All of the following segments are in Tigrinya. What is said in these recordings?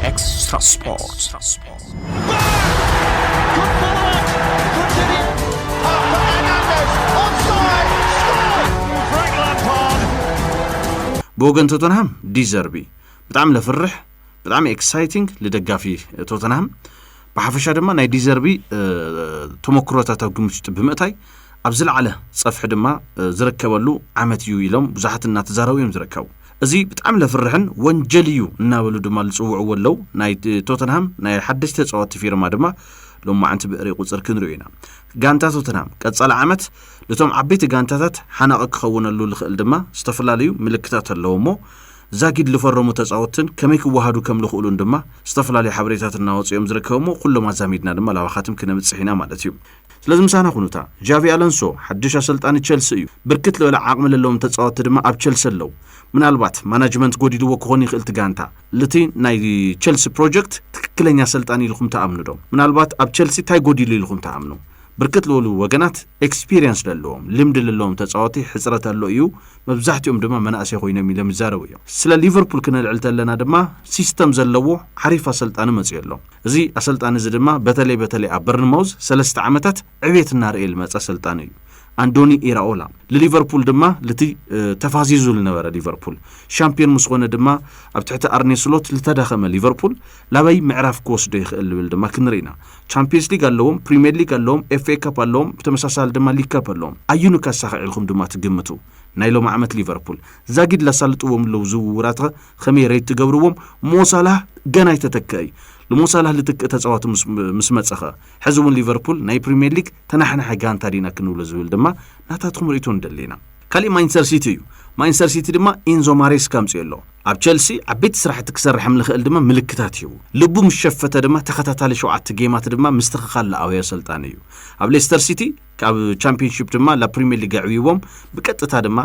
Extra Sport. ብወገን ቶተንሃም ዲዘርቢ ብጣዕሚ ለፍርሕ ብጣዕሚ ኤክሳይቲንግ ልደጋፊ ቶተንሃም ብሓፈሻ ድማ ናይ ዲዘርቢ እ፣ ተመክሮታት ኣብ ግምት ውሽጢ ብምእታይ ኣብ ዝለዓለ ፀፍሒ ድማ እ፣ ዝርከበሉ ዓመት እዩ ኢሎም ብዙሓት እናተዛረቡ እዮም ዝርከቡ እዚ ብጣዕሚ ለፍርሕን ወንጀል እዩ እናበሉ ድማ ልፅውዕዎ ኣለው። ናይ ቶተንሃም ናይ ሓደሽቲ ተፃወትቲ ፊርማ ድማ ሎማዕንቲ ብእሪ ቁፅር ክንሪኦ ኢና። ጋንታ ቶተንሃም ቀፃሊ ዓመት ልቶም ዓበይቲ ጋንታታት ሓናቒ ክኸውነሉ ልኽእል ድማ ዝተፈላለዩ ምልክታት ኣለው እሞ ዛጊድ ልፈረሙ ተፃወትትን ከመይ ክወሃዱ ከም ልኽእሉን ድማ ዝተፈላለዩ ሓበሬታት እናወፁ እዮም ዝርከቡ እሞ ኩሎም ኣዛሚድና ድማ ላባኻትም ክነምፅሕ ኢና ማለት እዩ። ስለዚ ምሳና ኩኑ እታ ዣቪ ኣለንሶ ሓድሽ ኣሰልጣኒ ቸልሲ እዩ ብርክት ልበለ ዓቅሚ ለለዎም ተጻወቲ ድማ ኣብ ቸልሲ ኣለው ምናልባት ማናጅመንት ጎዲልዎ ክኮን ይክእል እቲ ጋንታ ልቲ ናይ ቸልሲ ፕሮጀክት ትክክለኛ ኣሰልጣኒ ኢልኩም ትኣምኑ ዶ ምናልባት ኣብ ቸልሲ ታይ ጎዲሉ ኢልኩም ትኣምኑ ብርክት ልበሉ ወገናት ኤክስፒሪየንስ ለለዎም ልምዲ ለለዎም ተጻወቲ ሕጽረት ኣሎ እዩ መብዛሕትኦም ድማ መናእሰይ ኮይኖም ኢሎም ይዛረቡ እዮም ስለ ሊቨርፑል ክነልዕል ተለና ድማ ሲስተም ዘለዎ ዓሪፍ ኣሰልጣኒ መጽዮ ኣሎ እዚ ኣሰልጣኒ እዚ ድማ በተለይ በተለይ ኣብ በርንማውዝ ሰለስተ ዓመታት ዕብየት እናርኤ ልመጸ ኣሰልጣኒ እዩ። ኣንዶኒ ኢራኦላ ልሊቨርፑል ድማ ልቲ ተፋዚዙ ልነበረ ሊቨርፑል ሻምፒዮን ምስ ኾነ ድማ ኣብ ትሕቲ ኣርኔ ስሎት ልተዳኸመ ሊቨርፑል ላበይ ምዕራፍ ክወስዶ ይኽእል ልብል ድማ ክንርኢ ኢና። ቻምፒየንስ ሊግ ኣለዎም፣ ፕሪምየር ሊግ ኣለዎም፣ ኤፍኤ ካፕ ኣለዎም፣ ብተመሳሳሊ ድማ ሊግ ካፕ ኣለዎም። ኣዩኑ ከሳኺዕ ኢልኹም ድማ ትግምቱ? ናይ ሎሚ ዓመት ሊቨርፑል ዛጊድ ለሳልጥዎም ለዉ ዝውውራት ኸመይ ረይት ትገብርዎም ሞሳላህ ገና ኣይተተክአ እዩ ልሞሳላህ ልትክእ ተፃዋቲ ምስ መፀ ኸ ሕዚ እውን ሊቨርፑል ናይ ፕሪምየር ሊግ ተናሕናሐ ጋንታ ዲና ክንብሎ ዝብል ድማ ናታትኩም ርእቶ ንደሊ ኢና ካሊእ ማንቸስተር ሲቲ እዩ ማንቸስተር ሲቲ ድማ ኢንዞ ማሬስካ ኣምፅኦ ኣሎ ኣብ ቸልሲ ዓበይቲ ስራሕቲ ክሰርሕ ምልኽእል ድማ ምልክታት ሂቡ ልቡ ምስ ሸፈተ ድማ ተኸታታሊ ሸውዓተ ጌማት ድማ ምስትኽኻል ለኣውዮ ኣሰልጣኒ እዩ ኣብ ሌስተር ሲቲ ካብ ቻምፒዮንሺፕ ድማ ላ ፕሪምየር ሊግ ኣዕብይዎም ብቀጥታ ድማ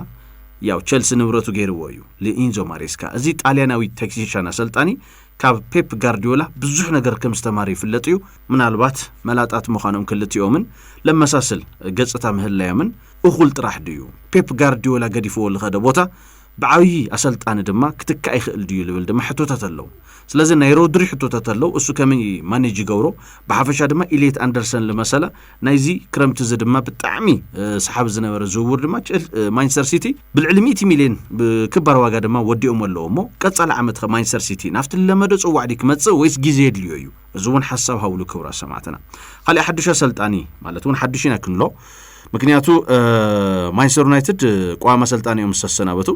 ያው ቸልሲ ንብረቱ ገይርዎ እዩ ልኢንዞ ማሬስካ እዚ ጣልያናዊ ቴክኒሻን ኣሰልጣኒ ካብ ፔፕ ጋርዲዮላ ብዙሕ ነገር ከም ዝተማረ ይፍለጥ እዩ ምናልባት መላጣት ምዃኖም ክልቲኦምን ለመሳስል ገጽታ ምህላዮምን እኹል ጥራሕ ድዩ ፔፕ ጋርዲዮላ ገዲፍዎ ዝኸደ ቦታ ብዓብዪ ኣሰልጣኒ ድማ ክትካእ ይኽእል ድዩ ዝብል ድማ ሕቶታት ኣለዉ ስለዚ ናይ ሮድሪ ሕቶታት ኣለዉ እሱ ከመይ ማኔጅ ይገብሮ ብሓፈሻ ድማ ኢሌት ኣንደርሰን ዝመሰለ ናይዚ ክረምቲ እዚ ድማ ብጣዕሚ ሰሓቢ ዝነበረ ዝውውር ድማ ማንቸስተር ሲቲ ብልዕሊ 100 ሚልዮን ክባር ዋጋ ድማ ወዲኦም ኣለዎ እሞ ቀጻሊ ዓመት ከ ማንቸስተር ሲቲ ናብቲ ዝለመደ ጽዋዕ ድዩ ክመጽእ ወይስ ግዜ የድልዮ እዩ እዚ እውን ሓሳብ ሃብሉ ክብራ ሰማዕትና ካልእ ሓዱሽ ኣሰልጣኒ ማለት እውን ሓዱሽ ኢና ክንሎ ምክንያቱ ማንቸስተር ዩናይትድ ቋሚ ኣሰልጣኒ እዮም ዝተሰናበቱ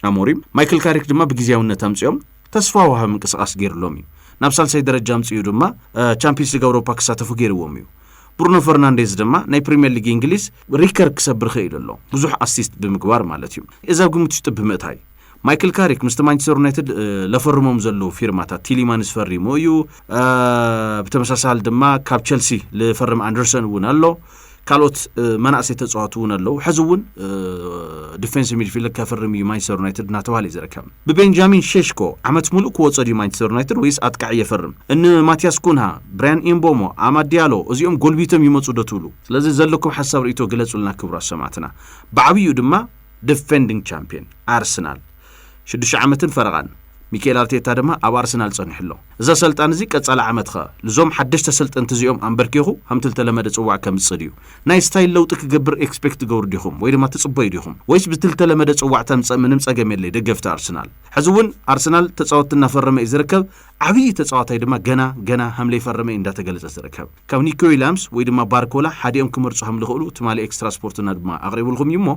ኣሞሪም ማይክል ካሪክ ድማ ብግዜያውነት ኣምፅኦም ተስፋ ውሃብ ምንቅስቃስ ገይርሎም እዩ ናብ ሳልሳይ ደረጃ ኣምፅኡ ድማ ቻምፒንስ ሊግ ኣውሮፓ ክሳተፉ ገይርዎም እዩ ብሩኖ ፈርናንዴዝ ድማ ናይ ፕሪምየር ሊግ እንግሊዝ ሪከርድ ክሰብር ኽኢሉ ኣሎ፣ ብዙሕ ኣሲስት ብምግባር ማለት እዩ። እዚ ኣብ ግምት ውሽጢ ብምእታይ፣ ማይክል ካሪክ ምስቲ ማንቸስተር ዩናይትድ ለፈርሞም ዘለዉ ፊርማታት ቲሊማንስ ፈሪሙ እዩ፣ ብተመሳሳሊ ድማ ካብ ቸልሲ ልፈርም ኣንደርሰን እውን ኣሎ፣ ካልኦት መናእሰይ ተፃዋቲ እውን ኣለዉ፣ ሕዚ እውን ዲፌንስ ሚድፊልድ ከፍርም እዩ ማንቸስተር ዩናይትድ እናተባህለ እዩ ዝርከብ። ብቤንጃሚን ሼሽኮ ዓመት ምሉእ ክወጾ ድዩ ማንቸስተር ዩናይትድ ወይስ ኣጥቃዒ የፈርም? ን ማቲያስ ኩንሃ፣ ብራያን ኢምቦሞ፣ ኣማድ ድያሎ እዚኦም ጎልቢቶም ይመጹ ዶ ትብሉ? ስለዚ ዘለኩም ሓሳብ ርእይቶ ግለጹልና ክብራት ሰማዕትና። ብዓብይኡ ድማ ደፈንዲንግ ቻምፕየን ኣርሰናል ሽዱሽተ ዓመትን ፈረቓን ሚኪኤል ኣርቴታ ድማ ኣብ ኣርሰናል ጸኒሑ ኣሎ። እዚ ኣሰልጣኒ እዚ ቀጻሊ ዓመት ከኣ ልዞም ሓደሽቲ ኣሰልጠንቲ እዚኦም ኣምበርኪኹ ሃምቲ ልተለመደ ጽዋዕ ከምጽእ ድዩ? ናይ ስታይል ለውጢ ክገብር ኤክስፔክት ትገብሩ ዲኹም ወይ ድማ ትጽበዩ ዲኹም? ወይስ ብቲ ልተለመደ ጽዋዕ ተምጸእ ምንም ጸገም የለይ ደገፍቲ ኣርሰናል። ሕዚ ውን ኣርሰናል ተጻወቲ እናፈረመ እዩ ዝርከብ ዓብዪ ተጻዋታይ ድማ ገና ገና ሃምለይፈረመ እዩ እንዳተገለጸ ዝርከብ። ካብ ኒኮ ዊላምስ ወይ ድማ ባርኮላ ሓዲኦም ክመርጹ ሃምልኽእሉ ትማሊ ኤክስትራ ስፖርትና ድማ ኣቕሪብልኹም እዩ እሞ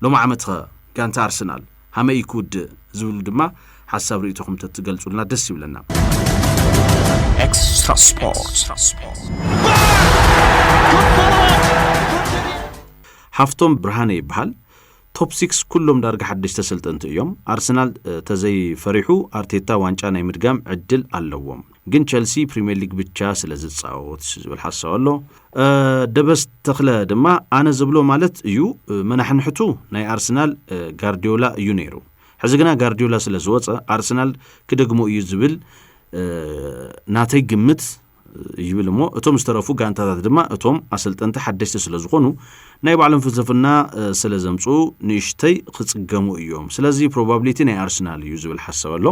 ሎሚ ዓመትኸ ጋንታ ኣርሰናል ሃመይ እዩ ክውድእ ዝብሉ ድማ ሓሳብ ርእይቶኹም ተትገልጹልና ደስ ይብለና። ኤክስትራ ሓፍቶም ብርሃነ ይበሃል ቶፕ ሲክስ ኩሎም ዳርጋ ሓደሽ ተሰልጠንቲ እዮም ኣርሰናል ተዘይፈሪሑ ኣርቴታ ዋንጫ ናይ ምድጋም ዕድል ኣለዎም ግን ቸልሲ ፕሪምየር ሊግ ብቻ ስለ ዝፃወት ዝብል ሓሳብ ኣሎ ደበስ ተኽለ ድማ ኣነ ዝብሎ ማለት እዩ መናሕንሕቱ ናይ ኣርሰናል ጋርዲዮላ እዩ ነይሩ ሕዚ ግና ጋርዲዮላ ስለ ዝወፀ ኣርሰናል ክደግሞ እዩ ዝብል ናተይ ግምት ይብል እሞ እቶም ዝተረፉ ጋንታታት ድማ እቶም ኣሰልጠንቲ ሓደሽቲ ስለ ዝኾኑ ናይ ባዕሎም ፍልስፍና ስለ ዘምፅኡ ንእሽተይ ክፅገሙ እዮም ስለዚ ፕሮባብሊቲ ናይ ኣርሰናል እዩ ዝብል ሓሳብ ኣሎ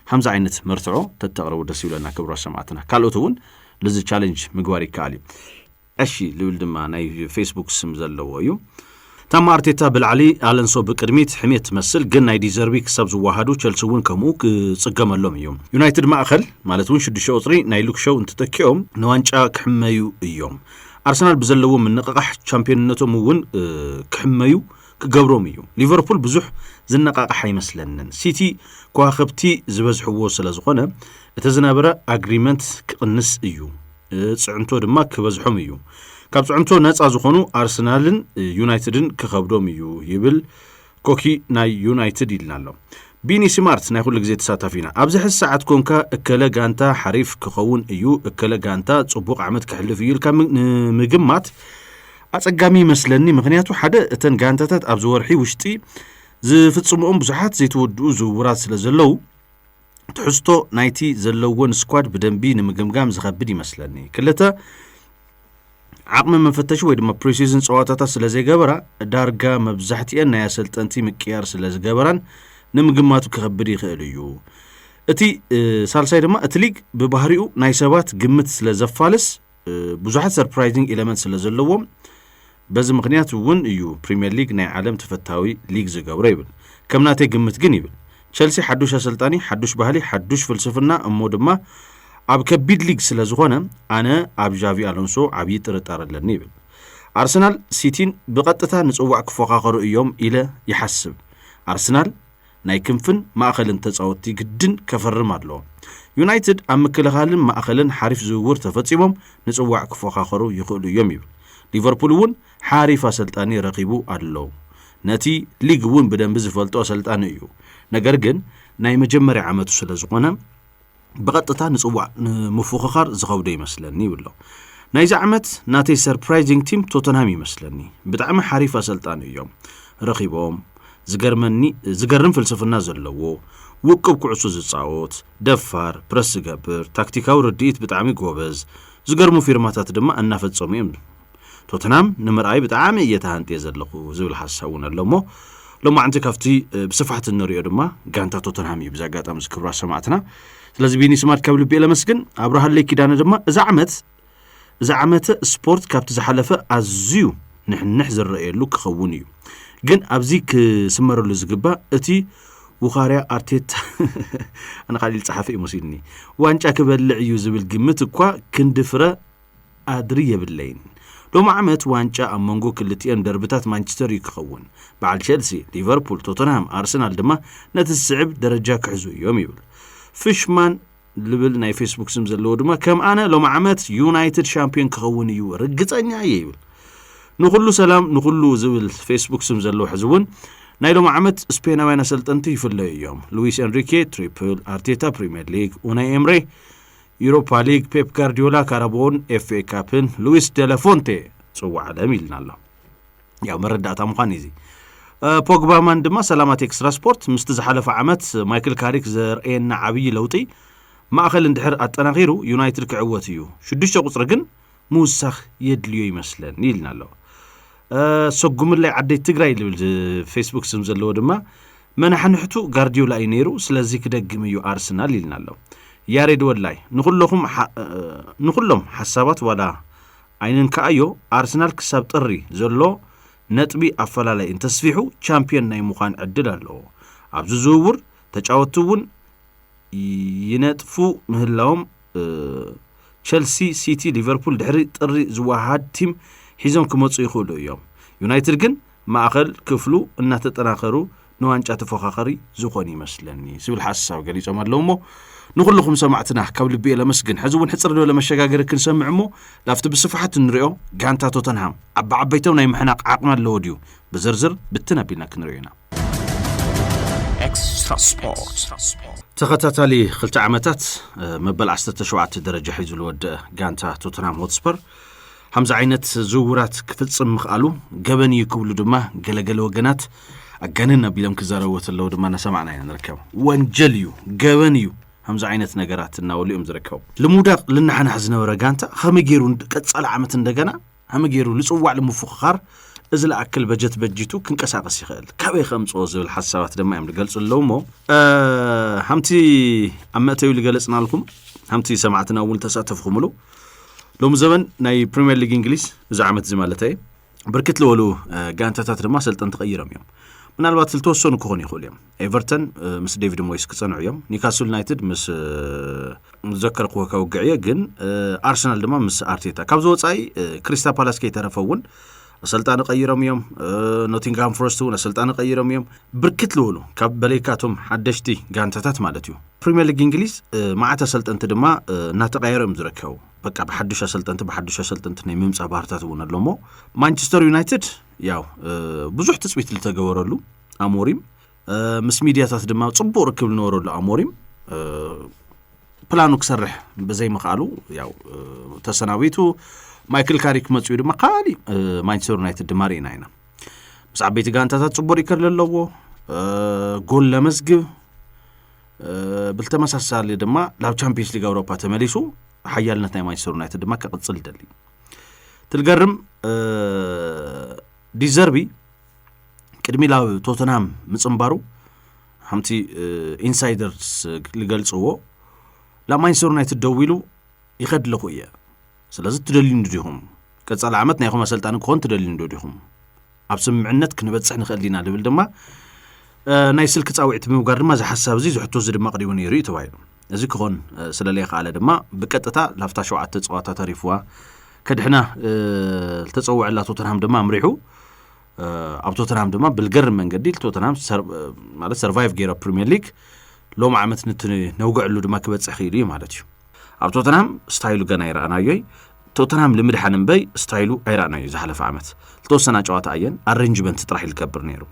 ከምዚ ዓይነት መርትዖ ተተቅርቡ ደስ ይብለና ክብራት ሰማእትና ካልኦት እውን ልዚ ቻለንጅ ምግባር ይከኣል እዩ ዕሺ ልብል ድማ ናይ ፌስቡክ ስም ዘለዎ እዩ ታማ ኣርቴታ ብላዕሊ ኣለንሶ ብቅድሚት ሕሜት ትመስል ግን ናይ ዲዘርቢ ክሳብ ዝወሃዱ ቸልሲ እውን ከምኡ ክፅገመሎም እዩ ዩናይትድ ማእኸል ማለት እውን ሽዱሽተ ቁፅሪ ናይ ሉክሸው እንትተኪኦም ንዋንጫ ክሕመዩ እዮም ኣርሰናል ብዘለዎ ምንቕቓሕ ቻምፒዮንነቶም እውን ክሕመዩ ክገብሮም እዩ። ሊቨርፑል ብዙሕ ዝነቓቕሕ ኣይመስለንን። ሲቲ ከዋኽብቲ ዝበዝሕዎ ስለዝኾነ እቲ ዝነበረ ኣግሪመንት ክቕንስ እዩ። ፅዕንቶ ድማ ክበዝሖም እዩ። ካብ ፅዕንቶ ነፃ ዝኾኑ ኣርሰናልን ዩናይትድን ክኸብዶም እዩ ይብል ኮኪ ናይ ዩናይትድ ይልና ኣሎ። ቢኒ ስማርት ናይ ኩሉ ግዜ ተሳታፊና ኣብዚ ሕዚ ሰዓት ኮንካ እከለ ጋንታ ሓሪፍ ክኸውን እዩ እከለ ጋንታ ጽቡቕ ዓመት ክሕልፍ እዩ ኢልካ ንምግማት ኣጸጋሚ ይመስለኒ ምኽንያቱ ሓደ እተን ጋንታታት ኣብዚ ወርሒ ውሽጢ ዝፍጽምኦም ብዙሓት ዘይተወድኡ ዝውውራት ስለ ዘለዉ ትሕዝቶ ናይቲ ዘለዎን ስኳድ ብደንቢ ንምግምጋም ዝኸብድ ይመስለኒ ክልተ ዓቕሚ መፈተሺ ወይ ድማ ፕሪሲዝን ፀዋታታት ስለ ዘይገበራ ዳርጋ መብዛሕትኤን ናይ ኣሰልጠንቲ ምቅያር ስለ ዝገበራን ንምግማቱ ክኸብድ ይኽእል እዩ እቲ ሳልሳይ ድማ እቲ ሊግ ብባህሪኡ ናይ ሰባት ግምት ስለ ዘፋልስ ብዙሓት ሰርፕራይዚንግ ኤለመንት ስለ ዘለዎ በዚ ምክንያት እውን እዩ ፕሪምየር ሊግ ናይ ዓለም ተፈታዊ ሊግ ዝገብሮ ይብል ከም ናተይ ግምት ግን ይብል ቸልሲ ሓዱሽ ኣሰልጣኒ ሓዱሽ ባህሊ ሓዱሽ ፍልስፍና እሞ ድማ ኣብ ከቢድ ሊግ ስለ ዝኾነ ኣነ ኣብ ዣቪ ኣሎንሶ ዓብዪ ጥርጣረ ኣለኒ ይብል ኣርሰናል ሲቲን ብቐጥታ ንፅዋዕ ክፎኻኸሩ እዮም ኢለ ይሓስብ ኣርሰናል ናይ ክንፍን ማእኸልን ተፃወትቲ ግድን ከፈርም ኣለዎ። ዩናይትድ ኣብ ምክልኻልን ማእኸልን ሓሪፍ ዝውውር ተፈፂሞም ንፅዋዕ ክፎኻኸሩ ይኽእሉ እዮም ይብል። ሊቨርፑል እውን ሓሪፍ ኣሰልጣኒ ረኺቡ ኣሎ። ነቲ ሊግ እውን ብደንቢ ዝፈልጦ ኣሰልጣኒ እዩ። ነገር ግን ናይ መጀመርያ ዓመቱ ስለዝኾነ፣ ብቐጥታ ንጽዋዕ ንምፉኽኻር ዝኸብዶ ይመስለኒ ይብሎ ናይዚ ዓመት ናተይ ሰርፕራይዚንግ ቲም ቶተንሃም ይመስለኒ ብጣዕሚ ሓሪፍ ኣሰልጣኒ እዮም ረኺቦም ዝገርመኒ ዝገርም ፍልስፍና ዘለዎ ውቅብ ኩዕሶ ዝፃወት ደፋር ፕረስ ዝገብር ታክቲካዊ ርድኢት ብጣዕሚ ጎበዝ ዝገርሙ ፊርማታት ድማ እናፈፀሙ እዮም ቶትናም ንምርኣይ ብጣዕሚ እየ ተሃንጥየ ዘለኹ ዝብል ሓሳብ እውን ኣሎ እሞ ሎማዕንቲ ካብቲ ብስፋሕቲ እንሪኦ ድማ ጋንታ ቶተንሃም እዩ ብዚ ኣጋጣሚ እዚ ክብራ ሰማዕትና ስለዚ ቢኒ ስማርት ካብ ልቢ እየ ለመስግን ኣብርሃለይ ኪዳነ ድማ እዚ ዓመት እዚ ዓመተ ስፖርት ካብቲ ዝሓለፈ ኣዝዩ ንሕንሕ ዝረኣየሉ ክኸውን እዩ ግን ኣብዚ ክስመረሉ ዝግባእ እቲ ውኻርያ ኣርቴታ ኣነ ቃሊል ጸሓፊ እዩ መሲልኒ ዋንጫ ክበልዕ እዩ ዝብል ግምት እኳ ክንዲ ፍረ ኣድሪ የብለይን ሎሚ ዓመት ዋንጫ ኣብ መንጎ ክልቲኤን ደርብታት ማንቸስተር እዩ ክኸውን። በዓል ቸልሲ፣ ሊቨርፑል፣ ቶተንሃም፣ ኣርሰናል ድማ ነቲ ዝስዕብ ደረጃ ክሕዙ እዮም ይብል። ፍሽማን ልብል ናይ ፌስቡክ ስም ዘለዎ ድማ ከም ኣነ ሎሚ ዓመት ዩናይትድ ሻምፒዮን ክኸውን እዩ ርግጸኛ እየ ይብል። ንኹሉ ሰላም ንኹሉ ዝብል ፌስቡክ ስም ዘለዎ ሕዚ እውን ናይ ሎም ዓመት ስፔናውያን ኣሰልጠንቲ ይፍለዩ እዮም ሉዊስ ኤንሪኬ ትሪፕል ኣርቴታ ፕሪምየር ሊግ ኡናይ ኤምሬ ዩሮፓ ሊግ፣ ፔፕ ጋርዲዮላ፣ ካራቦን፣ ኤፍኤ ካፕን ሉዊስ ደለፎንቴ ፅዋዕ ዓለም ኢልና ኣሎ። ያው መረዳእታ ምዃን እዚ ፖግባማን ድማ ሰላማት ኤክስትራ ስፖርት ምስቲ ዝሓለፈ ዓመት ማይክል ካሪክ ዘርእየና ዓብዪ ለውጢ ማእኸል እንድሕር ኣጠናኺሩ ዩናይትድ ክዕወት እዩ ሽዱሽተ ቁፅሪ ግን ምውሳኽ የድልዮ ይመስለኒ ኢልና ኣሎ ሰጉምላይ ዓደይ ትግራይ ዝብል ፌስቡክ ስም ዘለዎ ድማ መናሕንሕቱ ጋርዲዮላ እዩ ነይሩ ስለዚ ክደግም እዩ ኣርስናል ኢልና ኣሎ ያሬድ ወላይ ንኹለኹም ንኹሎም ሓሳባት ዋላ ኣይንንከኣዮ ኣርሰናል ክሳብ ጥሪ ዘሎ ነጥቢ ኣፈላላይ እንተስፊሑ ቻምፒዮን ናይ ምዃን ዕድል ኣለዎ ኣብዚ ዝውውር ተጫወትቲ እውን ይነጥፉ ምህላዎም ቸልሲ፣ ሲቲ፣ ሊቨርፑል ድሕሪ ጥሪ ዝወሃሃድ ቲም ሒዞም ክመፁ ይኽእሉ እዮም። ዩናይትድ ግን ማእኸል ክፍሉ እናተጠናኸሩ ንዋንጫ ተፎካኸሪ ዝኾኑ ይመስለኒ ዝብል ሓሳብ ገሊፆም ኣለዉ እሞ ንኹልኹም ሰማዕትና ካብ ልቢ እየ ለመስግን ሕዚ እውን ሕፅር ዝበለ መሸጋገሪ ክንሰምዕ እሞ ላብቲ ብስፍሓት እንሪኦ ጋንታ ቶተንሃም ዓበዓበይቶም ናይ ምሕናቕ ዓቕሚ ኣለዎ ድዩ ብዝርዝር ብትን ኣቢልና ክንሪኦ ኢና ኤክስትራ ስፖርት ተኸታታሊ ክልተ ዓመታት መበል 17 ደረጃ ሒዙ ዝወደአ ጋንታ ቶተናም ሆትስፐር ከምዚ ዓይነት ዝውውራት ክፍፅም ምኽኣሉ ገበን እዩ ክብሉ ድማ ገለገለ ወገናት ኣጋንን ኣቢሎም ክዛረብዎ ተለዉ ድማ እናሰማዕና ኢና ንርከብ ወንጀል እዩ ገበን እዩ ከምዚ ዓይነት ነገራት እናበሉ እዮም ዝርከቡ ልሙዳቅ ልናሓናሕ ዝነበረ ጋንታ ከመይ ገይሩ ቀፃሊ ዓመት እንደገና ዓሚ ገይሩ ልጽዋዕ ልምፉኽኻር እዚ ልኣክል በጀት በጂቱ ክንቀሳቐስ ይኽእል ካበይ ከምጽኦ ዝብል ሓሳባት ድማ እዮም ልገልጹ ኣለዉ እሞ ሃምቲ ኣብ መእተዊ ልገለጽናልኩም ሃምቲ ሰማዕትና እውን ተሳተፍኹምሉ ሎሚ ዘበን ናይ ፕሪምየር ሊግ እንግሊዝ እዚ ዓመት እዚ ማለት እየ ብርክት ዝበሉ ጋንታታት ድማ ሰልጠንቲ ቀይሮም እዮም ምናልባት ዝተወሰኑ ክኾኑ ይኽእሉ እዮም ኤቨርተን ምስ ዴቪድ ሞይስ ክጸንዑ እዮም ኒካስል ዩናይትድ ምስ ዘከርክዎ ከውግዕ እየ ግን ኣርሰናል ድማ ምስ ኣርቴታ ካብዚ ወፃኢ ክሪስታ ፓላስ ከይተረፈ እውን ኣሰልጣኒ ቀይሮም እዮም ኖቲንግሃም ፎረስት እውን ኣሰልጣኒ ቀይሮም እዮም ብርክት ልውሉ ካብ በለይካቶም ሓደሽቲ ጋንታታት ማለት እዩ ፕሪምየር ሊግ እንግሊዝ መዓት ኣሰልጠንቲ ድማ እናተቀየሩ እዮም ዝርከቡ በቃ ብሓዱሽ ኣሰልጠንቲ ብሓዱሽ ኣሰልጠንቲ ናይ ምምፃእ ባህርታት እውን ኣሎ እሞ ማንቸስተር ዩናይትድ ያው ብዙሕ ትፅቢት ዝተገበረሉ ኣሞሪም ምስ ሚድያታት ድማ ፅቡቅ ርክብ ዝነበረሉ ኣሞሪም ፕላኑ ክሰርሕ ብዘይምኽኣሉ ያው ተሰናቢቱ ማይክል ካሪክ መፅኡ ድማ ካሊእ ማንቸስተር ዩናይትድ ድማ ርኢና ኢና ምስ ዓበይቲ ጋንታታት ፅቡቅ ሪከር ዘለዎ ጎል ለመዝግብ ብተመሳሳሊ ድማ ናብ ቻምፒንስ ሊግ ኣውሮፓ ተመሊሱ ሓያልነት ናይ ማንቸስተር ዩናይትድ ድማ ክቕፅል ደልዩ ትልገርም ዲዘርቢ ቅድሚ ላብ ቶተንሃም ምፅንባሩ ሓምቲ ኢንሳይደርስ ዝገልፅዎ ላብ ማንቸስተር ዩናይትድ ደው ኢሉ ይኸድ ኣለኹ እየ ስለዚ ትደልዩኒ ዲኹም ቀፃሊ ዓመት ናይኹም ኣሰልጣኒ ክኾን ትደልዩኒ ዶ ዲኹም ኣብ ስምምዕነት ክንበፅሕ ንኽእል ዲና ዝብል ድማ ናይ ስልኪ ፃውዒት ብምግባር ድማ እዚ ሓሳብ እዚ ዝሕቶ እዚ ድማ ኣቕሪቡ ነይሩ እዩ ተባሂሉ እዚ ክኾን ስለለይከኣለ ድማ ብቀጥታ ላብታ ሸውዓተ ፀዋታ ተሪፍዋ ከድሕና ዝተፀውዐላ ቶተንሃም ድማ ኣምሪሑ ኣብ ቶተንሃም ድማ ብልገርም መንገዲ ቶተንሃም ማለት ሰርቫይቭ ገይሮ ፕሪምየር ሊግ ሎም ዓመት ንቲ ነውግዕሉ ድማ ክበፅሕ ክኢሉ እዩ ማለት እዩ ኣብ ቶተንሃም ስታይሉ ገና ይረኣናዮይ ቶተንሃም ልምድሓን እምበይ ስታይሉ ኣይረኣናዩ ዝሓለፈ ዓመት ዝተወሰና ጨዋታ ኣየን ኣረንጅመንት ጥራሕ ይልገብር ነይሩ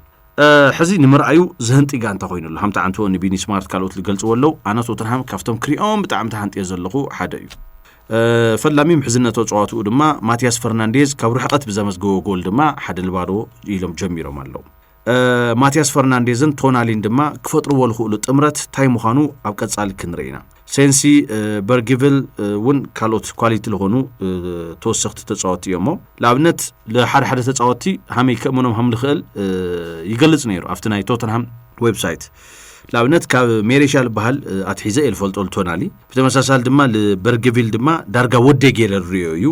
ሕዚ ንምርኣዩ ዝህንጢ ጋንታ ኮይኑ ኣሎ ሃምቲ ዓንቶ ንቢኒ ስማርት ካልኦት ዝገልጽዎ ኣለው ኣነ ቶትንሃም ካብቶም ክሪኦም ብጣዕሚ ተሃንጥዮ ዘለኹ ሓደ እዩ ፈላሚ ምሕዝነቶ ጸዋትኡ ድማ ማትያስ ፈርናንዴዝ ካብ ርሕቐት ብዘመዝገቦ ጎል ድማ ሓደ ንባዶ ኢሎም ጀሚሮም ኣለዉ ማትያስ ፈርናንዴዝን ቶናሊን ድማ ክፈጥርዎ ዝኽእሉ ጥምረት እንታይ ምዃኑ ኣብ ቀጻሊ ክንርኢ ኢና ሴንሲ በርጊቭል እውን ካልኦት ኳሊቲ ዝኾኑ ተወሰኽቲ ተፃወቲ እዮሞ ንኣብነት ንሓደ ሓደ ተፃወቲ ሃመይ ከእምኖም ሃም ዝኽእል ይገልፅ ነይሩ ኣብቲ ናይ ቶተንሃም ዌብሳይት ንኣብነት ካብ ሜሬሻ ዝበሃል ኣትሒዘ እየ ዝፈልጦ ልቶናሊ ብተመሳሳሊ ድማ በርግቪል ድማ ዳርጋ ወደ ገይረ ዝርዮ እዩ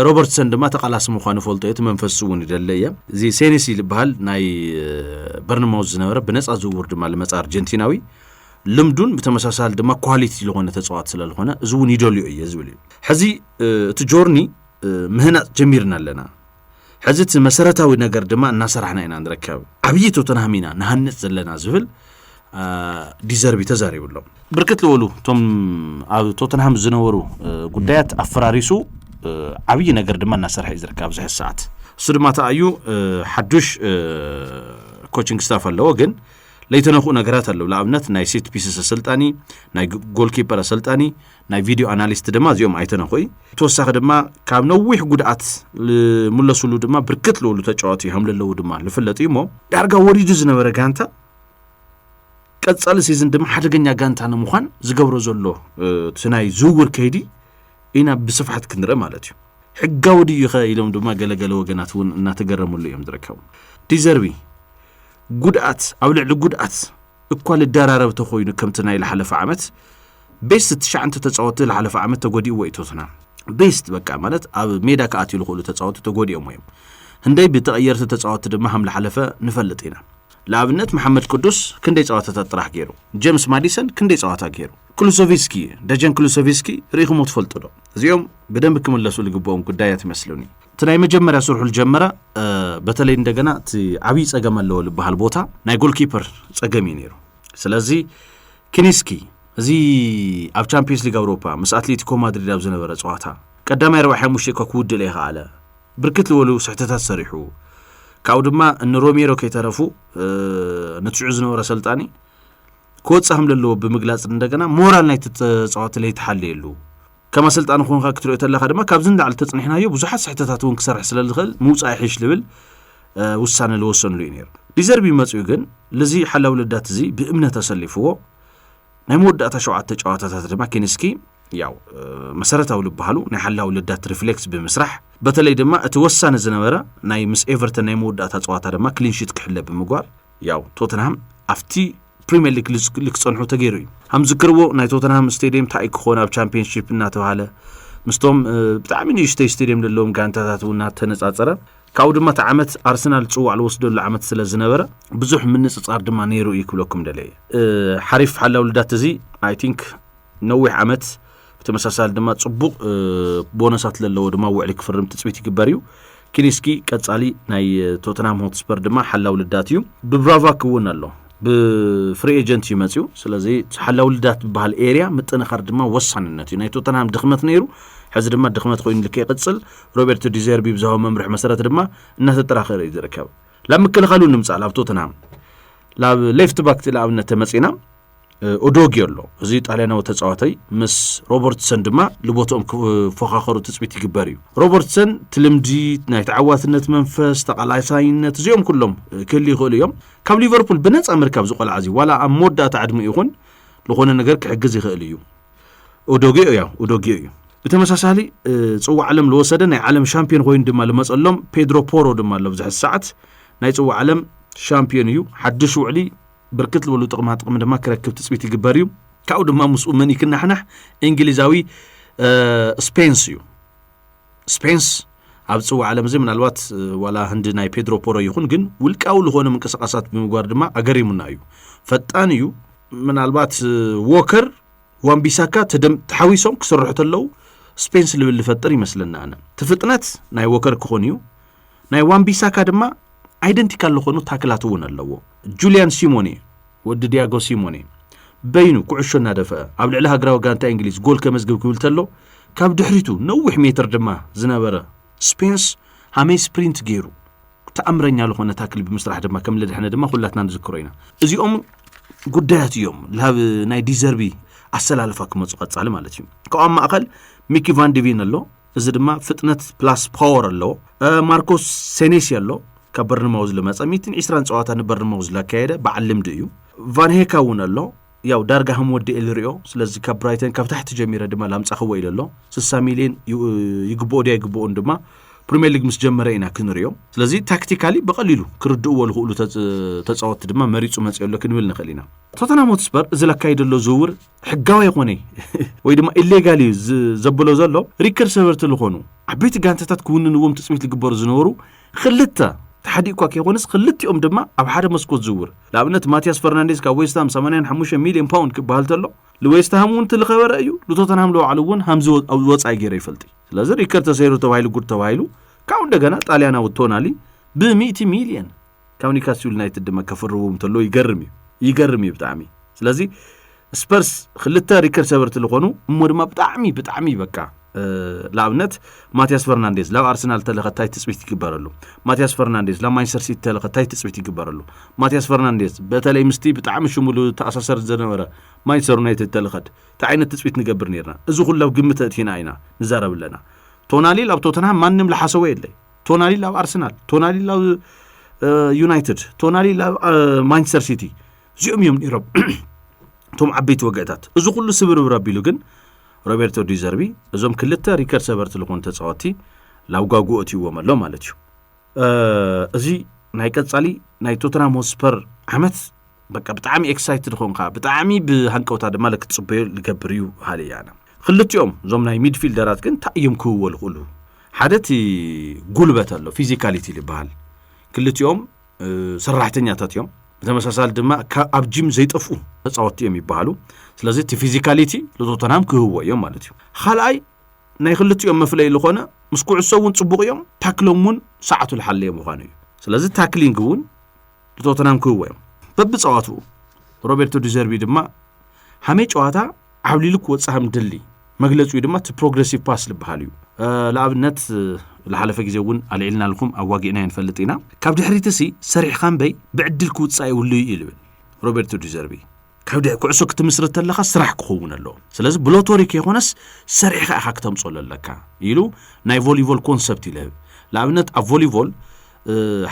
ሮበርትሰን ድማ ተቃላሲ ምኳኑ ፈልጦ እየ እቲ መንፈስ እውን ይደለ እየ እዚ ሴኔሲ ዝበሃል ናይ በርንማውዝ ዝነበረ ብነፃ ዝውውር ድማ ልመፃ ኣርጀንቲናዊ ልምዱን ብተመሳሳሊ ድማ ኳሊቲ ዝኾነ ተፃዋት ስለዝኾነ እዚ እውን ይደልዮ እየ ዝብል እዩ ሕዚ እቲ ጆርኒ ምህናፅ ጀሚርና ኣለና ሕዚ እቲ መሰረታዊ ነገር ድማ እናሰራሕና ኢና ንርከብ ዓብዪ ቶተንሃም ኢና ንሃንፅ ዘለና ዝብል ዲዘርቢ ተዛሪቡ ኣሎ ብርክት ዝበሉ እቶም ኣብ ቶተንሃም ዝነበሩ ጉዳያት ኣፈራሪሱ ዓብዪ ነገር ድማ እናሰርሐ እዩ ዝርከብ ኣብዚ ሕዚ ሰዓት እሱ ድማ ተኣዩ ሓዱሽ ኮችንግ ስታፍ ኣለዎ ግን ለይተነክኡ ነገራት ኣለዉ ንኣብነት ናይ ሴት ፒስስ ኣሰልጣኒ ናይ ጎልኪፐር ኣሰልጣኒ ናይ ቪድዮ ኣናሊስት ድማ እዚኦም ኣይተነክኡ ተወሳኺ ድማ ካብ ነዊሕ ጉድኣት ዝምለስሉ ድማ ብርክት ልብሉ ተጫወቲ ከም ዘለዉ ድማ ዝፍለጥ እዩ እሞ ዳርጋ ወሪዱ ዝነበረ ጋንታ ቀፃሊ ሲዝን ድማ ሓደገኛ ጋንታ ንምዃን ዝገብሮ ዘሎ እቲ ናይ ዝውውር ከይዲ ኢና ብስፍሓት ክንርእ ማለት እዩ ሕጋዊ ድዩ ኸ ኢሎም ድማ ገለገለ ወገናት እውን እናተገረምሉ እዮም ዝርከቡ ዲዘርቢ ጉድኣት ኣብ ልዕሊ ጉድኣት እኳ ልደራረብ ተኾይኑ ከምቲ ናይ ልሓለፈ ዓመት ቤስት ትሽዓንተ ተፃወቲ ልሓለፈ ዓመት ተጎዲእዎ እዩ ቶትናም ቤስት በቃ ማለት ኣብ ሜዳ ክኣትዩ ዝኽእሉ ተፃወቲ ተጎዲኦም እዮም ህንደይ ብተቐየርቲ ተፃወቲ ድማ ከም ልሓለፈ ንፈልጥ ኢና ንኣብነት መሓመድ ቅዱስ ክንደይ ፀዋታታት ጥራሕ ገይሩ ጀምስ ማዲሰን ክንደይ ፀዋታ ገይሩ ክሉሶቪስኪ ደጀን ክሉሶቪስኪ ርኢኹሞ ትፈልጡ ዶ እዚኦም ብደንብ ክምለሱ ዝግብኦም ጉዳያት ይመስሉኒ እቲ ናይ መጀመርያ ስርሑ ዝጀመረ በተለይ እንደገና እቲ ዓብዪ ፀገም ኣለዎ ዝበሃል ቦታ ናይ ጎልኪፐር ፀገም እዩ ነይሩ ስለዚ ክኒስኪ እዚ ኣብ ቻምፒየንስ ሊግ ኣውሮፓ ምስ ኣትሌቲኮ ማድሪድ ኣብ ዝነበረ ፀዋታ ቀዳማይ ረብዓ ሓሙሽተ እኳ ክውድእ ለይኸኣለ ብርክት ዝበሉ ስሕተታት ሰሪሑ ካብኡ ድማ ንሮሜሮ ከይተረፉ ነቲ ሽዑ ዝነበረ ሰልጣኒ ክወፅእ ከም ዘለዎ ብምግላፅ እንደገና ሞራል ናይቲ ተፃዋቲ ለይተሓለየሉ ከም ኣሰልጣኒ ኮንካ ክትሪኦ ተለካ ድማ ካብዚ ንላዕሊ ተፅኒሕናዮ ብዙሓት ስሕተታት እውን ክሰርሕ ስለ ዝኽእል ምውፃእ ይሕሽ ዝብል ውሳነ ዝወሰንሉ እዩ ነይሩ ዲዘርቢ መፅኡ ግን ልዚ ሓላዊ ልዳት እዚ ብእምነት ኣሰሊፍዎ ናይ መወዳእታ ሸውዓተ ጨዋታታት ድማ ኪንስኪ ያው መሰረታዊ ዝበሃሉ ናይ ሓላዊ ልዳት ሪፍሌክስ ብምስራሕ በተለይ ድማ እቲ ወሳኒ ዝነበረ ናይ ምስ ኤቨርተን ናይ መወዳእታ ፀዋታ ድማ ክሊንሽት ክሕለ ብምግባር ያው ቶተንሃም ኣብቲ ፕሪምየር ሊግ ክጸንሑ ተገይሩ እዩ ከም ዝክርዎ ናይ ቶተንሃም ስቴድየም እንታይ እዩ ክኾን ኣብ ቻምፒየንሽፕ እናተባሃለ ምስቶም ብጣዕሚ ንእሽተይ ስቴድየም ዘለዎም ጋንታታት እውን እናተነጻጸረ ካብኡ ድማ እቲ ዓመት ኣርሰናል ፅዋዕ ዝወስደሉ ዓመት ስለ ዝነበረ ብዙሕ ምንፅፃር ድማ ነይሩ እዩ ክብለኩም ደለየ ሓሪፍ ሓላው ልዳት እዚ ኣይ ቲንክ ነዊሕ ዓመት ብተመሳሳሊ ድማ ጽቡቕ ቦነሳት ዘለዎ ድማ ውዕሊ ክፍርም ትፅቢት ይግበር እዩ ኪሊስኪ ቀጻሊ ናይ ቶተንሃም ሆትስፐር ድማ ሓላው ልዳት እዩ ብብራቫ ክውን ኣሎ ብፍሪ ኤጀንት እዩ መፅኡ ስለዚ ሓላው ልዳት ዝበሃል ኤርያ ምጥንኻር ድማ ወሳንነት እዩ ናይ ቶተንሃም ድኽመት ነይሩ ሕዚ ድማ ድኽመት ኮይኑ ልክ ይቕፅል ሮቤርቶ ዲዘርቢ ብዝሃቦ መምርሒ መሰረት ድማ እናተጠራኸረ እዩ ዝርከብ ላብ ምክልኻሉ ንምፃእ ላብ ቶተንሃም ላብ ሌፍት ባክ ንኣብነት ተመፂና ኦዶጊ ኣሎ እዚ ጣልያናዊ ተፃዋታይ ምስ ሮበርትሰን ድማ ልቦትኦም ክፎኻኸሩ ትፅቢት ይግበር እዩ ሮበርትሰን እቲ ልምዲ ናይ ተዓዋትነት መንፈስ ተቓላሳይነት እዚኦም ኩሎም ክህል ይኽእሉ እዮም ካብ ሊቨርፑል ብነፃ ምርካብ ዝቆልዓ እዚ ዋላ ኣብ መወዳእታ ዕድሚ ይኹን ዝኾነ ነገር ክሕግዝ ይኽእል እዩ ኦዶጊኦ እያ ኦዶጊኦ እዩ ብተመሳሳሊ ፅዋ ዓለም ዝወሰደ ናይ ዓለም ሻምፒዮን ኮይኑ ድማ ዝመፀሎም ፔድሮ ፖሮ ድማ ኣሎ ብዝሕዚ ሰዓት ናይ ፅዋ ዓለም ሻምፒዮን እዩ ሓድሽ ውዕሊ ብርክት ዝበሉ ጥቕማ ጥቕሚ ድማ ክረክብ ትፅቢት ይግበር እዩ ካብኡ ድማ ምስኡ መን ይክናሕናሕ እንግሊዛዊ ስፔንስ እዩ ስፔንስ ኣብ ፅዋ ዓለም እዚ ምናልባት ዋላ ህንዲ ናይ ፔድሮ ፖሮ ይኹን ግን ውልቃዊ ዝኾነ ምንቅስቃሳት ብምግባር ድማ ኣገሪሙና እዩ ፈጣን እዩ ምናልባት ዎከር ዋንቢሳካ ተሓዊሶም ክስርሑ ተለው ስፔንስ ልብል ዝፈጥር ይመስለና ኣነ እቲ ፍጥነት ናይ ዎከር ክኾን እዩ ናይ ዋን ቢሳካ ድማ ኣይደንቲካል ዝኾኑ ታክላት እውን ኣለዎ። ጁልያን ሲሞኔ ወዲ ዲያጎ ሲሞኔ በይኑ ኩዕሾ እናደፍአ ኣብ ልዕሊ ሃገራዊ ጋንታ እንግሊዝ ጎል ከመዝግብ ክብል ተሎ ካብ ድሕሪቱ ነዊሕ ሜትር ድማ ዝነበረ ስፔንስ ሃመይ ስፕሪንት ገይሩ ተኣምረኛ ዝኾነ ታክል ብምስራሕ ድማ ከም ልድሕነ ድማ ኩላትና ንዝክሮ ኢና እዚኦም ጉዳያት እዮም ላብ ናይ ዲዘርቢ ኣሰላልፋ ክመፁ ቀፃሊ ማለት እዩ ካብኣብ ማእኸል ሚኪ ቫንዲቪን ኣሎ እዚ ድማ ፍጥነት ፕላስ ፓወር ኣለዎ። ማርኮስ ሴኔሲ ኣሎ ካብ በርንማውዝ ዝመፀ 120 ፀዋታ ንበርንማውዝ ላካየደ በዓል ልምዲ እዩ ቫንሄካ እውን ኣሎ ያው ዳርጋ ከም ወዲ ኤልሪኦ ስለዚ ካብ ብራይተን ካብ ታሕቲ ጀሚረ ድማ ላምፃኽዎ ኢለ ኣሎ 60 ሚሊዮን ይግብኦ ድያ ይግብኦን ድማ ፕሪምየር ሊግ ምስ ጀመረ ኢና ክንሪኦ ስለዚ ታክቲካሊ ብቐሊሉ ክርድእዎ ዝኽእሉ ተፃወትቲ ድማ መሪፁ መፅኦ ኣሎ ክንብል ንኽእል ኢና ቶተናም ሆትስፐር እዚ ለካይደ ዘሎ ዝውውር ሕጋዊ ኣይኮነይ ወይ ድማ ኢሌጋል እዩ ዘብሎ ዘሎ ሪከር ሰበርቲ ዝኾኑ ዓበይቲ ጋንታታት ክውንንዎም ትፅቢት ዝግበሩ ዝነበሩ ክልተ ተሓዲኡ እኳ ከይኮነስ ክልቲኦም ድማ ኣብ ሓደ መስኮት ዝውር ንኣብነት ማትያስ ፈርናንዴዝ ካብ ዌስትሃም 85 ሚሊዮን ፓውንድ ክበሃል ተሎ ንዌስትሃም እውን ትልኸበረ እዩ ንቶተንሃም ለባዕሉ እውን ሃምዚ ወፃኢ ገይረ ይፈልጥ እዩ ስለዚ ሪከር ተሰይሩ ተባሂሉ ጉድ ተባሂሉ ካብኡ እንደገና ጣልያናዊ ቶናሊ ብ100 ሚሊዮን ካብ ኒውካስል ዩናይትድ ድማ ከፍርቡ እንተለዉ ይገርም እዩ ይገርም እዩ ብጣዕሚ ስለዚ ስፐርስ ክልተ ሪከርድ ሰበርቲ ዝኾኑ እሞ ድማ ብጣዕሚ ብጣዕሚ በቃ ንኣብነት ማትያስ ፈርናንዴዝ ላብ ኣርሰናል ተለኸታይ ትፅቢት ይግበረሉ ማትያስ ፈርናንዴዝ ላብ ማንቸስተር ሲቲ ተለኸታይ ትፅቢት ይግበረሉ ማትያስ ፈርናንዴዝ በተለይ ምስቲ ብጣዕሚ ሽሙሉ ተኣሳሰር ዝነበረ ማንቸስተር ዩናይትድ ተለኸት እንታይ ዓይነት ትፅቢት ንገብር ነርና እዚ ኩሉ ኣብ ግምት ኣእቲና ኢና ንዛረብ ኣለና ቶናሊ ኣብ ቶተንሃም ማንም ዝሓሰቦ የለይ ቶናሊ ላብ ኣርሰናል ቶናሊ ላብ ዩናይትድ ቶናሊ ላብ ማንቸስተር ሲቲ እዚኦም እዮም ነይሮም እቶም ዓበይቲ ወግዕታት እዚ ኩሉ ስብርብር ኣቢሉ ግን ሮቤርቶ ዲዘርቢ እዞም ክልተ ሪከርድ ሰበርቲ ዝኾኑ ተፃወቲ ላብ ጓጉኦ እትይዎም ኣሎ ማለት እዩ እዚ ናይ ቀፃሊ ናይ ቶተናም ሆስፐር ዓመት በቃ ብጣዕሚ ኤክሳይትድ ኾንካ ብጣዕሚ ብሃንቀውታ ድማ ክትፅበዮ ዝገብር እዩ ሃለ ያነ ክልቲኦም እዞም ናይ ሚድፊልደራት ግን እንታይ እዮም ክህዎ ዝኽእሉ ሓደ እቲ ጉልበት ኣሎ ፊዚካሊቲ ዝበሃል ክልቲኦም ሰራሕተኛታት እዮም ብተመሳሳሊ ድማ ኣብ ጂም ዘይጠፍኡ ተፃወትቲ እዮም ይበሃሉ ስለዚ እቲ ፊዚካሊቲ ንቶተንሃም ክህዎ እዮም ማለት እዩ ካልኣይ ናይ ክልቲኦም መፍለይ ዝኾነ ምስ ኩዕሶ እውን ፅቡቕ እዮም ታክሎም እውን ሰዓቱ ዝሓለየ ምዃኑ እዩ ስለዚ ታክሊንግ እውን ብቶተናም ክህዎ እዮም በብፀዋትኡ ሮቤርቶ ዲዘርቢ ድማ ሓመይ ጨዋታ ዓብሊሉ ክወፅእ ከም ድሊ መግለፂኡ ድማ እቲ ፕሮግረሲቭ ፓስ ዝበሃል እዩ ንኣብነት ዝሓለፈ ግዜ እውን ኣልዒልና ልኩም ኣዋጊዕና ንፈልጥ ኢና ካብ ድሕሪትሲ ሰሪሕካ እምበይ ብዕድል ክውፃእ ይብሉ እዩ ይብል ሮቤርቶ ዲዘርቢ ካብ ድሕ ኩዕሶ ክትምስርት ተለኻ ስራሕ ክኸውን ኣለዎ ስለዚ ብሎቶሪ ከይኮነስ ሰሪሕኻ ኢኻ ክተምፅኦ ዘለካ ኢሉ ናይ ቮሊቮል ኮንሰፕት እዩ ልህብ ንኣብነት ኣብ ቮሊቮል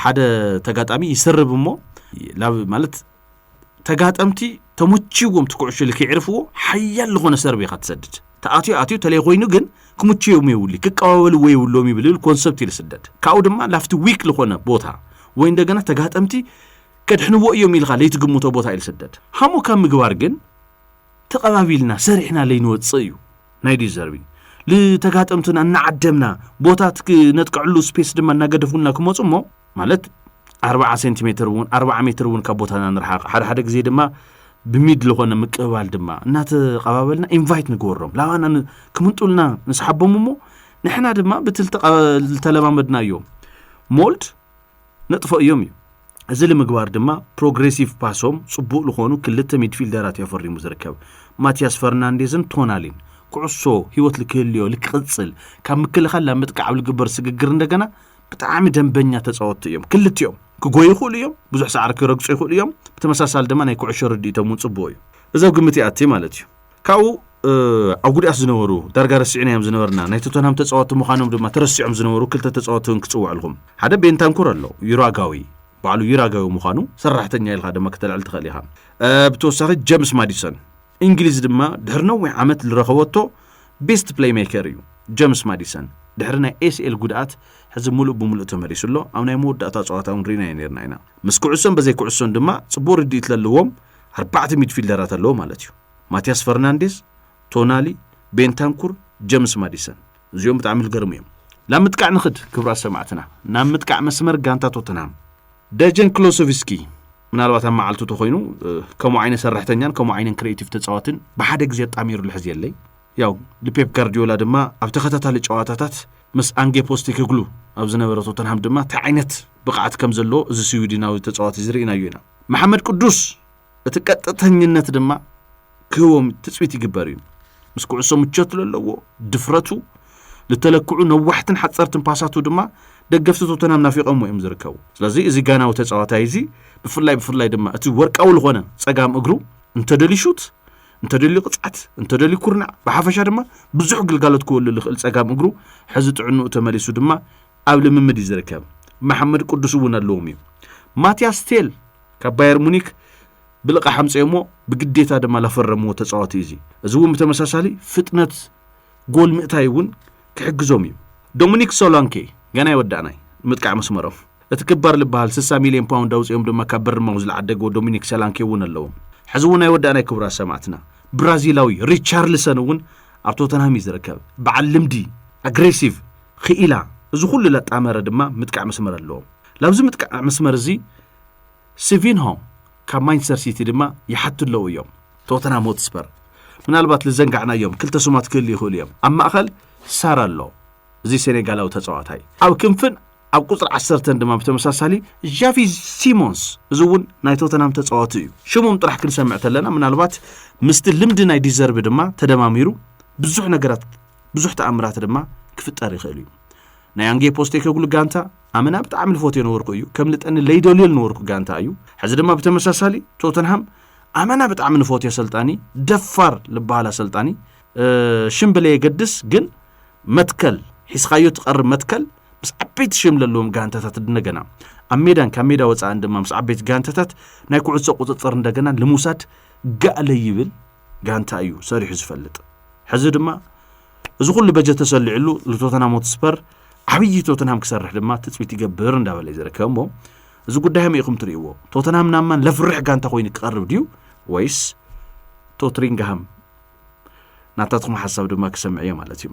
ሓደ ተጋጣሚ ይሰርብ እሞ ማለት ተጋጠምቲ ተመችዎም እቲ ኩዕሾ ኢሉ ከይዕርፍዎ ሓያል ዝኾነ ሰርብ ኢኻ ትሰድድ ተኣትዮ ኣትዮ ተለይ ኮይኑ ግን ክምችዮም የብሉ ክቀባበልዎ የብሎም ይብል ኮንሰፕት ኢሉ ስደድ ካብኡ ድማ ላፍቲ ዊክ ዝኾነ ቦታ ወይ እንደገና ተጋጠምቲ ከድሕንዎ እዮም ኢልኻ ለይትግምቶ ቦታ ኢዩ ዝስደድ። ሃሞ ካብ ምግባር ግን ተቐባቢልና ሰሪሕና ለይንወጽእ እዩ ናይ ዲዘርቢ ልተጋጠምትና እናዓደምና ቦታ ትክነጥቀዕሉ ስፔስ ድማ እናገደፉልና ክመፁ እሞ ማለት ኣርባዓ ሴንቲሜትር እውን ኣርባዓ ሜትር እውን ካብ ቦታና ንርሓቕ ሓደ ሓደ ግዜ ድማ ብሚድ ዝኾነ ምቅብባል ድማ እናተቐባበልና ኢንቫይት ንግበሮም ላባና ክምንጡልና ንስሓቦም እሞ ንሕና ድማ ብቲ ዝተለማመድና እዮም ሞልድ ነጥፎ እዮም እዩ። እዚ ልምግባር ድማ ፕሮግሬሲቭ ፓሶም ጽቡቕ ልኾኑ ክልተ ሚድፊልደራት እዩ ኣፈሪሙ ዝርከብ። ማቲያስ ፈርናንዴዝን ቶናሊን። ኩዕሶ ህይወት ልክህልዮ ልክቕጽል ካብ ምክልኻል ናብ ምጥቃዕ ኣብ ልግበር ስግግር እንደገና ብጣዕሚ ደንበኛ ተጻወትቲ እዮም ክልቲኦም። ክጎዩ ይኽእሉ እዮም፣ ብዙሕ ሳዕሪ ክረግጹ ይኽእሉ እዮም። ብተመሳሳሊ ድማ ናይ ኩዕሾ ርድኢቶም እውን ጽቡቕ እዩ። እዚ ኣብ ግምት ይኣቲ ማለት እዩ። ካብኡ ኣብ ጉድኣት ዝነበሩ ዳርጋ ረሲዕናዮም ዝነበርና ናይ ቶተንሃም ተጻወቲ ምዃኖም ድማ ተረሲዖም ዝነበሩ ክልተ ተጻወቲ እውን ክጽውዐልኩም። ሓደ ቤንታንኩር ኣሎ፣ ዩራጋዊ ባዕሉ ዩራጋዊ ምዃኑ ሰራሕተኛ ኢልካ ድማ ክተልዕል ትኽእል ኢኻ። ብተወሳኺ ጀምስ ማዲሰን እንግሊዝ ድማ ድሕሪ ነዊሕ ዓመት ዝረኸበቶ ቤስት ፕሌይሜከር እዩ። ጀምስ ማዲሰን ድሕሪ ናይ ኤስኤል ጉድኣት ሕዚ ምሉእ ብምሉእ ተመሊሱ ኣሎ ኣብ ናይ መወዳእታ ጸዋታ እውን ርኢናዮ ነርና ኢና ምስ ኩዕሶን በዘይ ኩዕሶን ድማ ጽቡቕ ርድኢት ለለዎም ኣርባዕተ ሚድፊልደራት ኣለዎ ማለት እዩ። ማቲያስ ፈርናንዴዝ፣ ቶናሊ፣ ቤንታንኩር፣ ጀምስ ማዲሰን እዚኦም ብጣዕሚ ዝገርሙ እዮም። ናብ ምጥቃዕ ንኽድ ክብራት ሰማዕትና፣ ናብ ምጥቃዕ መስመር ጋንታ ቶተንሃም ደጀን ክሎሶቪስኪ ምናልባት ኣብ መዓልቱ ተኮይኑ ከምኡ ዓይነት ሰራሕተኛን ከምኡ ዓይነት ክሬቲቭ ተፃዋትን ብሓደ ግዜ ኣጣሚሩ ልሕዝ የለይ ያው ልፔፕ ጋርዲዮላ ድማ ኣብ ተኸታታሊ ጨዋታታት ምስ ኣንጌ ፖስቲ ክግሉ ኣብ ዝነበረ ቶተንሃም ድማ እንታይ ዓይነት ብቕዓት ከም ዘለዎ እዚ ስዊድናዊ ተፃዋቲ ዝርኢናዮ ኢና መሓመድ ቅዱስ እቲ ቀጥተኝነት ድማ ክህቦም ትፅቢት ይግበር እዩ ምስ ኩዕሶ ምቾት ዘለዎ ድፍረቱ ዝተለክዑ ነዋሕትን ሓፀርትን ፓሳቱ ድማ ደገፍቲ ቶተናም ናፊቐሞ እዮም ዝርከቡ ስለዚ እዚ ጋናዊ ተፃዋታይ እዚ ብፍላይ ብፍላይ ድማ እቲ ወርቃዊ ዝኾነ ፀጋም እግሩ እንተደልዩ ሹት እንተደልዩ ቅፅዓት እንተደልዩ ኩርናዕ ብሓፈሻ ድማ ብዙሕ ግልጋሎት ክወሉ ዝኽእል ፀጋም እግሩ ሕዚ ጥዕንኡ ተመሊሱ ድማ ኣብ ልምምድ እዩ ዝርከብ። መሓመድ ቅዱስ እውን ኣለዎም እዩ። ማትያስ ቴል ካብ ባየር ሙኒክ ብልቓሕ ኣምፀዮሞ ብግዴታ ድማ ላፈረምዎ ተፃዋቲ እዩ እዚ እዚ እውን ብተመሳሳሊ ፍጥነት ጎል ምእታይ እውን ክሕግዞም እዩ ዶሚኒክ ሶላንኬ ገና ይወዳእናይ ምጥቃዕ መስመሮም እቲ ክባር ዝበሃል 60 ሚልዮን ፓውንድ ኣውፅኦም ድማ ካብ በርማው ዝለዓደግዎ ዶሚኒክ ሰላንኬ እውን ኣለዎም ሕዚ እውን ኣይወዳእናይ ክቡራት ሰማዕትና ብራዚላዊ ሪቻርልሰን እውን ኣብ ቶተንሃም እዩ ዝርከብ በዓል ልምዲ ኣግሬሲቭ ኽኢላ እዚ ኹሉ ለጣመረ ድማ ምጥቃዕ መስመር ኣለዎ። ላብዚ ምጥቃዕ መስመር እዚ ሲቪንሆ ካብ ማንቸስተር ሲቲ ድማ ይሓቱ ኣለዉ እዮም። ቶተንሃም ሆትስፐር ምናልባት ልዘንጋዕናዮም ክልተ ስማት ክህሉ ይኽእሉ እዮም። ኣብ ማእኸል ሳር ኣሎ እዚ ሴኔጋላዊ ተፃዋታይ ኣብ ክንፍን ኣብ ቁፅሪ ዓሰርተን ድማ ብተመሳሳሊ ዣቪ ሲሞንስ እዚ እውን ናይ ቶተናም ተፃዋቲ እዩ ሽሞም ጥራሕ ክንሰምዕ ተለና ምናልባት ምስቲ ልምዲ ናይ ዲዘርቢ ድማ ተደማሚሩ ብዙሕ ነገራት ብዙሕ ተኣምራት ድማ ክፍጠር ይኽእል እዩ ናይ ኣንጌ ፖስቴኮግሉ ጋንታ ኣመና ብጣዕሚ ልፎትዮ ነበርኩ እዩ ከም ልጠኒ ለይደልዮ ልነበርኩ ጋንታ እዩ ሕዚ ድማ ብተመሳሳሊ ቶተንሃም ኣመና ብጣዕሚ ልፎትዮ ኣሰልጣኒ ደፋር ልበሃል ኣሰልጣኒ ሽም ብለየገድስ ግን መትከል ሒስኻዮ ትቐርብ መትከል ምስ ዓበይቲ ሽም ዘለዎም ጋንታታት እንደገና ኣብ ሜዳን ካብ ሜዳ ወፃእን ድማ ምስ ዓበይቲ ጋንታታት ናይ ኩዕሶ ቁፅፅር እንደገና ልምውሳድ ጋእለ ይብል ጋንታ እዩ ሰሪሑ ዝፈልጥ ሕዚ ድማ እዚ ኩሉ በጀት ተሰሊዕሉ ንቶተናም ሆትስፐር ዓብዪ ቶተናም ክሰርሕ ድማ ትፅቢት ይገብር እንዳበለ እዩ ዝርከብ እሞ እዚ ጉዳይ ከመይ ኢኹም ትርእይዎ ቶተናም ናብ ማን ለፍርሕ ጋንታ ኮይኑ ክቐርብ ድዩ ወይስ ቶትሪንግሃም ናታትኩም ሓሳብ ድማ ክሰምዕ እየ ማለት እዩ